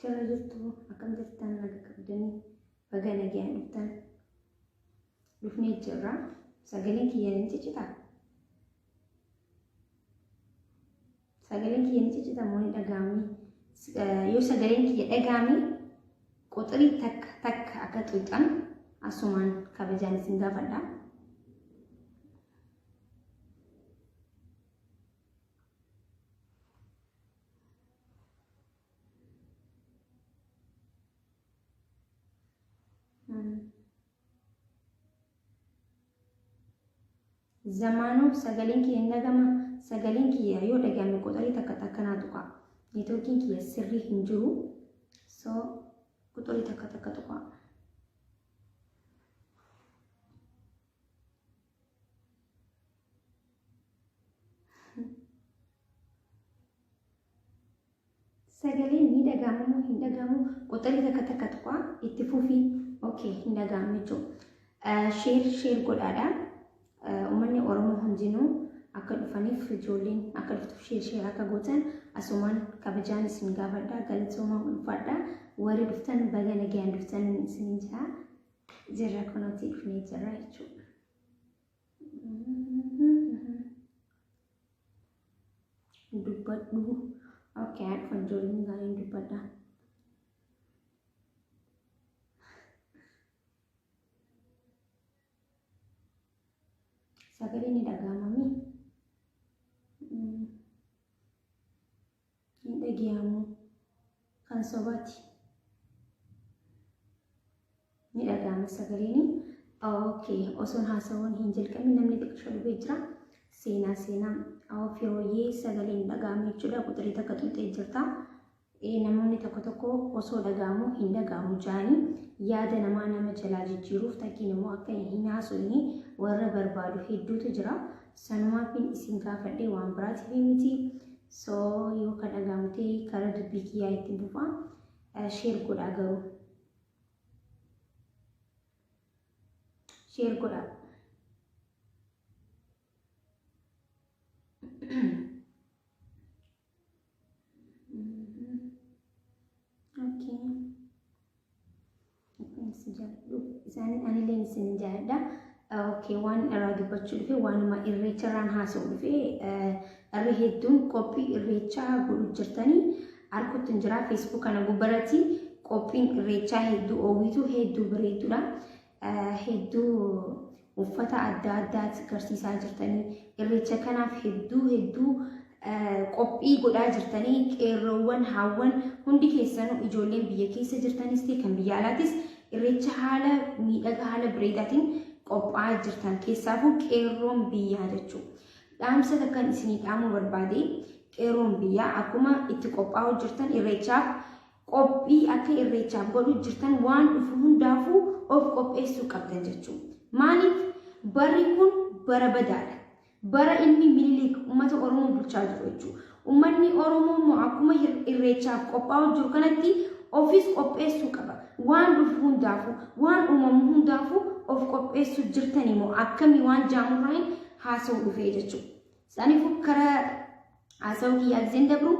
Jirra jirtu akkam jirtan naga qabdanii baga nagayaan dhuftan dhufnee jirra sagaleen kiyya ni ciccita sagaleen kiyya ni ciccita moo ni dhaga'ami yoo sagaleen kiyya dhaga'ami quxirii takka takka akka xuuxan asumaan kabajaan isin gaafadha. Zamaanoo sagaleen kiyya hin dhagama sagaleen kiyya yoo dhagame quxurii takka takka naa tuqa neetwoorkiin kiyya sirrii hin jiru so quxurii takka takka tuqa. Sagaleen ni dhaga'ama moo hin dhaga'amu? Quxxarii takka takka tuqaa itti fufii. Okay, hin dhaga'amu jechuudha. Sheer sheer godhaadha. Uummanni Oromoo hundinuu akka dhufaniif ijoolleen akka dhuftuuf sheer sheer akka gootan asumaan kabajaan isin gaafadha. Galatoomaa ulfaadha. Warri dhuftan baga nagayaan dhuftan isin jira. Jirra kunuutii dhufnee jirra jechuudha. dubbadhu okay haa dhufan ijoolleen gaariin dubbadha sagalee ni dhagahamami hin dhageehamu kan sobaati ni dhagaama sagaleeni okay osoon haasawuun hin jalqabin namni xiqqisha dhufee jira seenaa seenaa ofii hooyyee sagaleen dhagaama jechuudha quxirii takka xuxxee jirta namoonni tokko tokko osoo dhagaamu hin dhagaamu jaanii yaada namaa nama jalaa jijjiiruuf takkiin immoo akka hin haasofne warra barbaadu hedduutu jira sanumaafin isin gaafadhee waan biraatiif miti So yoo ka dhaga'amu ta'e karaa dubbii kiyyaa itti bufa. Sheer godhaa garuu. Sheer godhaa. Okay. si jaalladhu isaanii anillee isin jaalladha. Okay, waan irraa dubbachuu dhufe waanuma irreecha irraan haasa'u dhufe irree hedduun qophii irreechaa godhu jirtanii arguutti hin jira feesbuuk kana gubbarratti qophiin irreechaa hedduu oowwitu hedduu bareedduudha hedduu uffata adda addaati garsiisaa jirtanii irreecha kanaaf hedduu hedduu qophii godhaa jirtanii qeerroowwan haawwan hundi keessanuu ijoolleen biyya keessa jirtanis ta'e kan biyya alaatis irreecha haala miidhaga haala bareedaatiin qophaa'aa jirtan keessaafuu qeerroon biyyaa jechuu dhaamsa takkan isinii dhaamuu barbaade qeerroon biyyaa akkuma itti qophaa'uu jirtan irreechaaf qophii akka irreechaaf godhuu jirtan waan dhufu hundaafuu of qopheessuu qabdan jechuun maaliif barri kun bara badaadha bara ilmi minilik ummata oromoo bulchaa jiru jechuudha ummanni oromoo immoo akkuma irreechaaf qophaa'uu jiru kanatti ofis qopheessuu qaba waan dhufu hundaafuu waan uumamu hundaafuu of qopheessuu jirtan immoo akkamii waan jaamurraahin haasa'u dhufee jechuudha Sanifu kara haasawuu kiyya giseen dabru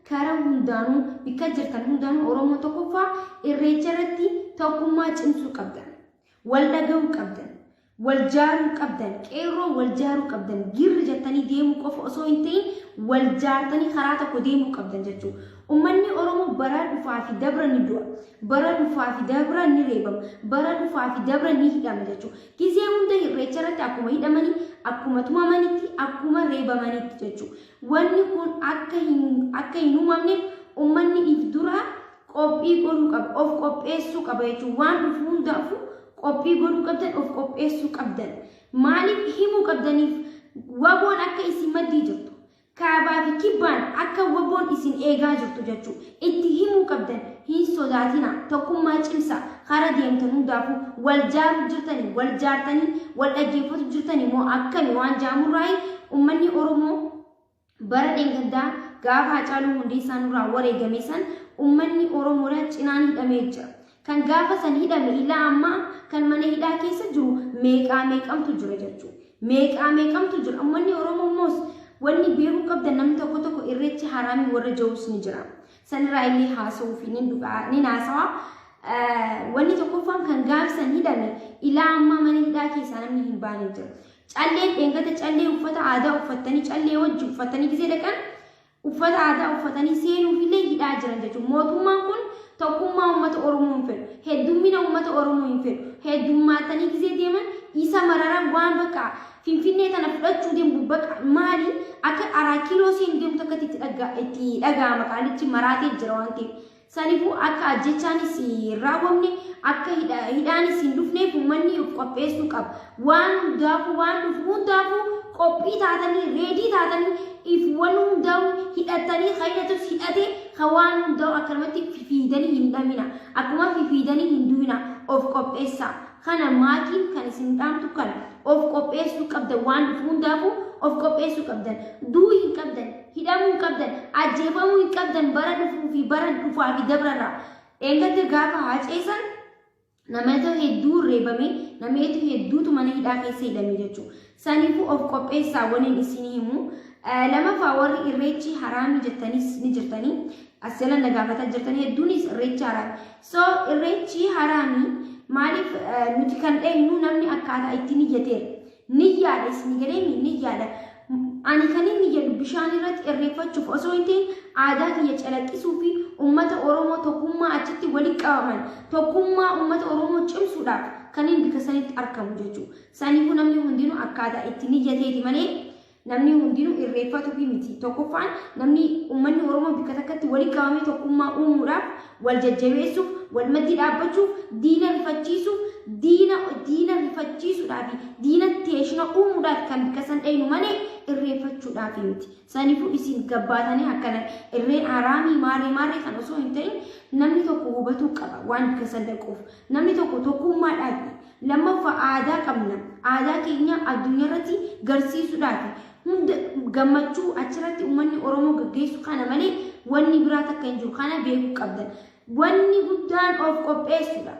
kara hundaanuu bikka jirtan hundaanuu Oromoo tokkoffaa irreecha irratti tokkummaa cimsuu qabdan. Wal dhaga'uu qabdan. Wal jaaruu qabdan. Qeerroo wal jaaruu qabdan. Girri jettanii deemuu qofa osoo hin ta'in wal jaartanii karaa tokko deemuu qabdan jechuudha. Uummanni Oromoo bara dhufaa fi dabra ni du'a. Bara dhufaa fi dabra ni reebama. Bara dhufaa fi dabra ni hidhama jechuudha. Gizee hunda irreecha irratti akkuma hidhamanii, akkuma tumamanitti, akkuma reebamanitti jechuudha. Wanni kun akka hin akka hin uumamneef uummanni if dura qophii godhuu qaba, of qopheessuu qaba jechuudha. Waan dhufu hundaafuu qophii godhuu qabdan, of qopheessuu qabdan. Maaliif himuu qabdaniif waboon akka isin maddii jirtu. Kaabaa fi Kibbaan akka wbo'n isin eegaa jirtu jechu itti himuu qabdan. Hin sodaatinaa. Tokkummaa cimsaa. Kara deemtan hundaafuu wal jaaru jirtanii, wal jaartanii wal dhaggeeffatu jirtanii moo akkami waan jaamurraayi ummanni Oromoo bara dheengaddaa gaafa Hacaaluu Hundeessaa nurraa wareegame san ummanni Oromoodha cinaan hidhamee jira. Kan gaafa san hidhame ilaa ammaa kan mana hidhaa keessa jiru meeqaa meeqamtu jira jechuudha. Meeqaa meeqamtu jira. Uummanni Oromoo immoos wanni beekuu qabda namni tokko tokko irreechi haraamii warra jawus ni jira. Sanirraa illee haasawuu fi nin dhugaa nin haasawa. Wanni tokkoffaan kan gaafa san hidhame ilaa ammaa mana hidhaa keessaa namni hin baane jira. Calleen dheengata callee uffata aadaa uffattanii callee wajji uffattanii gisee dhaqan uffata aadaa uffatanii seenuufillee hidhaa jiran jechuudha. Mootummaan kun tokkummaa uummata Oromoo hin fedhu. Heddummina uummata Oromoo hin fedhu. Heddummaatanii gisee deeman isa mararaa waan bakka Finfinnee tana fudhachuu deemu bakka maali akka araa kiloo seen deemtu akkatti itti dhaga'ama qaalichi maraatee jira waan ta'eef. Sanifuu akka ajjeechaanis hin raawwamne, akka hidhaanis hin dhufneef ummanni of qopheessuu qaba. Waan hundaafuu waan dhufu hundaafuu qophii taatanii, reedii taatanii if wan hundaa'uu hidhattanii ka hidhatus hidhate ka waan hundaa'u akkanumatti fifiidanii hin dhamina. Akkuma fifiidanii hin du'ina. Of qopheessaa. Kana maatiif kan isin dhaamtu kana of qopheessuu qabdan waan dhufu hundaafuu of qopheessuu qabdan duu hin qabdan hidhamuu hin qabdan ajjeefamuu hin qabdan bara dhufuu fi bara dhufaa fi dabrarraa dheengadda gaafa haaceessan namoota hedduu reebame namoota hedduutu mana hidhaa keessa hidhame jechuudha. Saniifuu of qopheessaa waniin isinii himu. Lamaffaa warri irreechi haraami jettaniis ni jirtanii. As jala na gaafataa jirtan hedduunis irreechi haraami. So irreechi haraami maaliif nuti kan dheenyu namni akkaataa itti niyyateera. Niyyaadha isin galeemi niyyaadha. Ani kan inni jedhu bishaan irratti irreeffachuuf osoo hin ta'in aadaa kiyya calaqqisuu fi uummata Oromoo tokkummaa achitti walitti qabaman tokkummaa uummata Oromoo cimsuudhaaf kan inni bika sanitti argamu jechuudha. Saniifuu namni hundinuu akkaataa itti niyyateeti malee namni hundinuu irreeffatuufi miti. Tokkoffaan namni uummanni Oromoo bikka takkatti walitti qabamee tokkummaa uumuudhaaf wal jajjabeessuuf, wal maddii dhaabbachuuf, diina rifachiisuuf, diina diina rifachiisuudhaa fi diina teeshina uumuudhaaf kan bikka san dhaynu malee irreeffachuudhaaf miti. Saniifuu isin gabbaatanii akkana irreen haraamii maarree maarree kan osoo hin ta'in namni tokko hubatuu qaba waan bikka san dhaquuf. Namni tokko tokkummaadhaafi. Lammaffa aadaa qabna. Aadaa keenya addunyaa irratti garsiisuudhaafi. Hunda gammachuu achirratti uummanni Oromoo gaggeessu kana malee wanni biraa takka hin jiru. Kana beekuu qabdan. Wanni guddaan of qopheessuudha.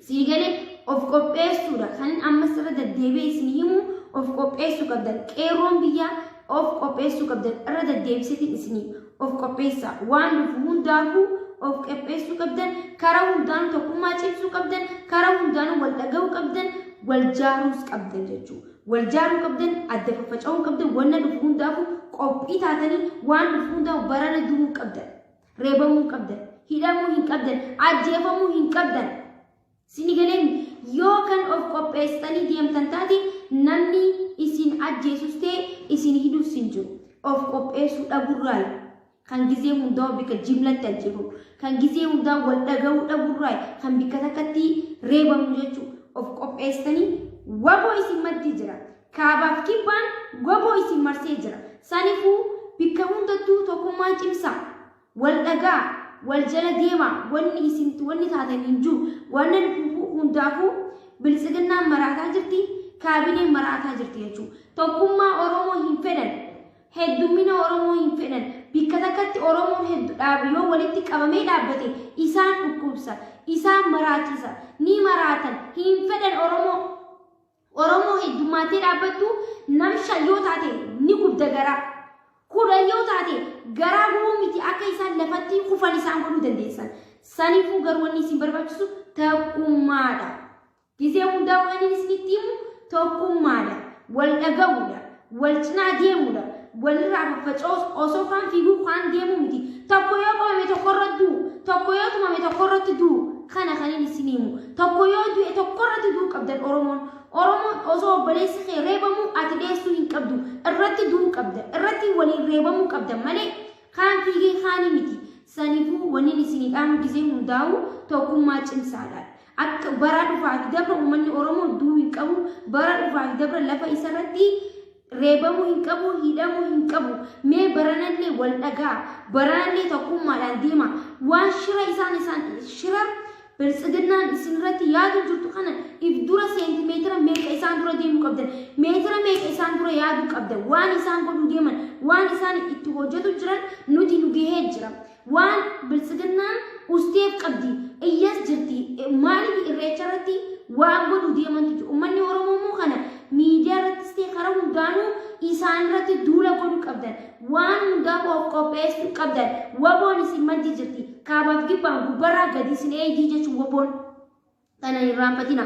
Sii galee of qopheessuudha. Kanin ammas irra deddeebi'ee isin himu of qopheessuu qabdan. Qeerroon biyyaa of qopheessuu qabdan. Irra deddeebiseetiin isin himu. of qopheessaa waan dhufu hundaafuu of qopheessuu qabdan karaa hundaan tokkummaa cimsuu qabdan karaa hundaan wal dhaga'uu qabdan wal jaaruus qabdan jechuudha. Wal jaaruu qabdan adda faffaca'uu qabdan wanna dhufu hundaafuu qophii taatanii waan dhufu hundaaf barana du'uu qabdan reebamuu qabdan hidhamuu hin qabdan ajjeefamuu hin qabdan Sini galeen yoo kan of qopheessitanii deemtan taate namni isin ajjeesus ta'e isin hidhus hin jiru. Of qopheessuu dhaburraayi. Kan gizee hundaa bika jimlatti ajjeefamu. Kan gizee hundaa wal dhaga'uu dhaburraayi. Kan bikka takkatti reebamu jechuu. Of qopheessitanii waboo isin maddii jira. Kaabaaf kibbaan waboo isin marsee jira. Sanifuu bikka hundattuu tokkummaa cimsaa. Wal dhaga'a, wal jala deema, wanni isin wanni taatan hin jiru. Wanna dhufuufuu hundaafuu biltsiginnaan maraataa jirti, kaabineen maraataa jirti jechuudha. Tokkummaa Oromoo hin fedhan, heddummina Oromoo hin fedhan, bikka takkatti Oromoon heddu dhaabu yoo walitti qabamee dhaabbate isaan dhukkubsa, isaan maraachisa, ni maraatan, hin fedhan Oromoo. Oromoo heddummaattee dhaabbattu nam shan yoo taate ni gubda garaa. Kudhan yoo taate garaa gubuu miti akka isaan lafatti kufan isaan godhuu dandeessan. Saniifuu garuu wanni isin barbaachisu tokkummaadha. Gizee hundaa waan inni isinitti himu tokkummaadha. Wal dhaga'uudha. wal cinaa deemuudha. Walirraa faffaca'us osoo kaan fiiguu kaan deemuu miti. Tokko yoo qabame tokkorra du'u, tokko yoo tumame tokkorratti du'u. Kana kan inni isin himu. Tokko yoo du'e tokkorratti du'u qabdan Oromoon. Oromoon osoo obboleessi kee reebamuu ati dheessuu hin qabdu. Irratti du'u qabda. Irratti waliin reebamuu qabda malee kaan fiigee kaanii miti. Sanifuu wanni isin dhaamuu gisee hundaa'u tokkummaa cimsaadha. Akka bara dhufaa fi dabra uummanni Oromoo du'uu hin qabu, bara dhufaa fi dabra lafa isa irratti reebamuu hin qabu, hidhamuu hin qabu. Mee baranallee wal dhagaa, baranallee tokkummaadhaan deema. Waan shira isaan isaan shira biltsiginnaan isin irratti yaaduu jirtu kana if dura seentimeetira meeqa isaan dura deemuu qabdan, meetira meeqa isaan dura yaaduu qabdan, waan isaan godhuu deeman, waan isaan itti hojjetu jiran nuti nu gahee jira. Waan biltsiginnaan usteef qabdi iyyas jirti maaliif irreecha irratti waan godhu deemantu jiru ummanni oromoo immoo kana miidiyaa irrattis ta'e karaa hundaanuu isaan irratti duula godhu qabdan waan hundaa of qopheessuu qabdan waboon isin maddi jirti kaabaaf gibbaan gubbarraa gadi isin eegdii jechuun waboon Tana hin raanfatina.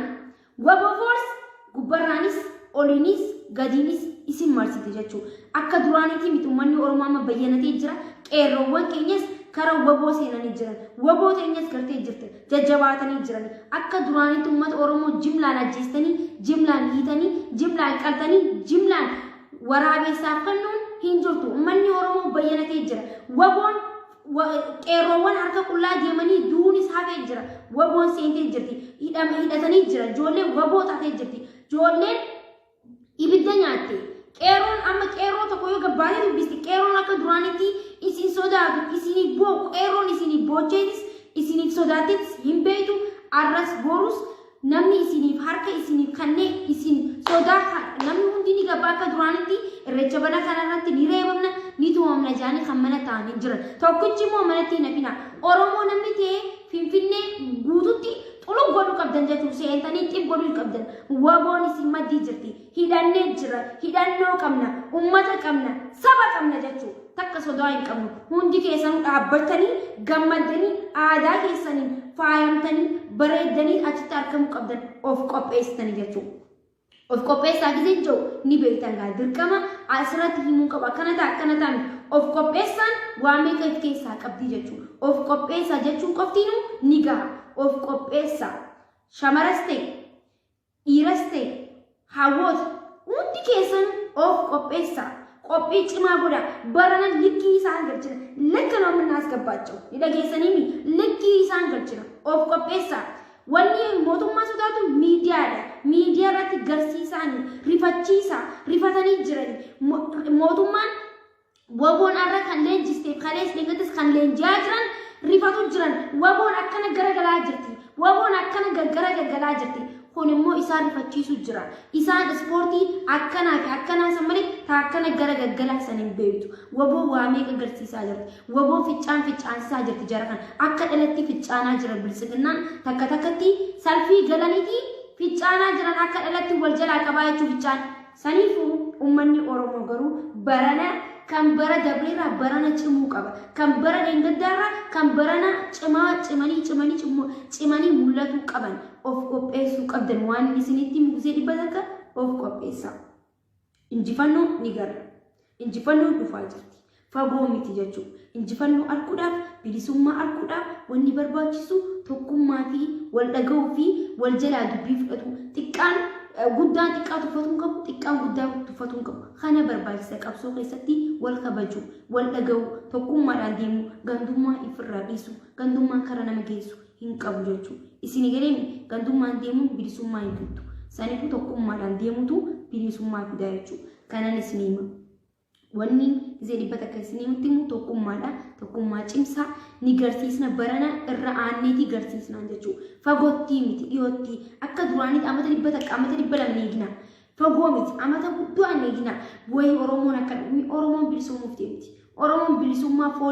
Wabo Force gubbarraanis oliinis gadiinis isin marsite jechuu. Akka duraaniitii miti uummanni Oromoo amma bayyanatee jira. Qeerroowwan keenyas kara waboo seenanii jiran. Waboo teenyas gartee jirte. Jajjabaatanii jiran. Akka duraaniitti uummata Oromoo jimlaan ajjeestanii, jimlaan hiitanii, jimlaan qaltanii, jimlaan waraabeessaaf kennuun hin jirtu. Uummanni Oromoo bayyanatee jira. Waboon Wa- qeerroowwan harka qullaa deemanii duunis hafee jira waboon seentee jirti hidhama hidhatanii jira ijoolleen waboo taatee jirti ijoolleen ibidda nyaatte qeerroon amma qeerroo tokko yoo gabbaatee dubbisti qeerroon akka duraanitti isin sodaatu isiniif booku qeerroon isiniif boocheetis isiniif sodaattis hin beektu arras borus namni isiniif harka isiniif kannee isin sodaa kan- namni hundi ni gabaa akka duraanitti irreecha bara kanarratti ni reebamna ni tumamna jedhanii kan mana ta'anii jiran tokkichi immoo manatti hin hafina oromoo namni ta'ee finfinnee guututti xulug godhuu qabdan jechuun seentanii xib godhuu hin qabdan waboon isin maddii jirti hidhannee jira hidhannoo qabna ummata qabna saba qabna jechuu takka sodaa hin qabnu hundi keessanuu dhaabbattanii gammaddanii aadaa keessaniin faayamtanii bareeddanii achitti argamuu qabdan of qopheessitanii jechuu of qopheessaa gisee jiru ni beektan gaa dirqama asirratti himuu qaba akkana ta'a akkana ta'a miti. of qopheessaan waa meeqa of keessaa qabdii jechuu of qopheessaa jechuun qoftiinuu ni gaha of qopheessaa shamaras ta'e Dhiiras ta'e hawwoota hundi keessan of qopheessaa. Qophii cimaa godhaa. Barana likkii isaan galchina. Lekka noo minnaas gabbaachoo. Ni dhageessaniimi likkii isaan galchina. Of qopheessaa. Wanni mootummaa sodaatu miidiyaadha. Miidiyaa irratti garsiisaani rifachiisaa. Rifatanii jirani. Mo- Mootummaan Waboon arra kan leenjisteef kalees dheengatis kan leenji'aa jiran rifatu jiran waboon akkana garagalaa jirti waboon akkana gargara gargalaa jirti kun immoo isaan rifachiisu jira isaan ispoortii akkanaa fi akkanaa san malee taa akkana gara gargalaa san hin beektu waboo waa meeqa agarsiisaa jirti waboo ficcaan ficcaansisaa jirti jara kan akka dhalatti ficcaanaa jira biltsiginnaan takka takkatti salfii galaniitii ficcaanaa jiran akka dhalatti wal jalaa qabaa jechuu ficcaan Saniifuu ummanni Oromoo garuu barana kan bara dabreerraa barana cimuu qaba. Kan bara dheengaddaarraa kan barana cimaa cimanii cimanii cimmoo cimanii mul'atuu qaban. Of qopheessuu qabdan waan isinitti mugusee dhibba takka of qopheessaa. Injifannoo ni garra. Injifannoon dhufaa jirti. Fagoo miti jechuu. Injifannoo arguudhaaf, bilisummaa arguudhaaf wanni barbaachisu tokkummaa fi wal dhaga'uu fi wal jalaa dubbii fudhatuu. Xiqqaan eh, guddaan xiqqaa tuffatuu hin qabu, xiqqaan guddaa tuffatuu hin qabu. Kana barbaachisa qabsoo keessatti wal kabajuu, wal dhaga'uu, tokkummaadhaan deemuu, gandummaa ifirraa dhiisuu, gandummaan kara nama geessu hin qabu jechuu. Isin galeemi gandummaan deemuun bilisummaa hin fiddu. Saniifuu tokkummaadhaan deemutu bilisummaa fidaa jechuudha. kanan isin hima wanni gisee dhibba takka isin himutti immoo tokkummaadha tokkummaa cimsaa ni garsiisna barana irra aanneetii garsiisnaan jechuu fagottii miti dhiyoottii akka duraanitti amata dhibba takka amata dhibba lama ni eegna fagoo miti amata guddoo an eegna wayii oromoon akka dhumni oromoon bilisoomuuf deemti oromoon bilisummaa foon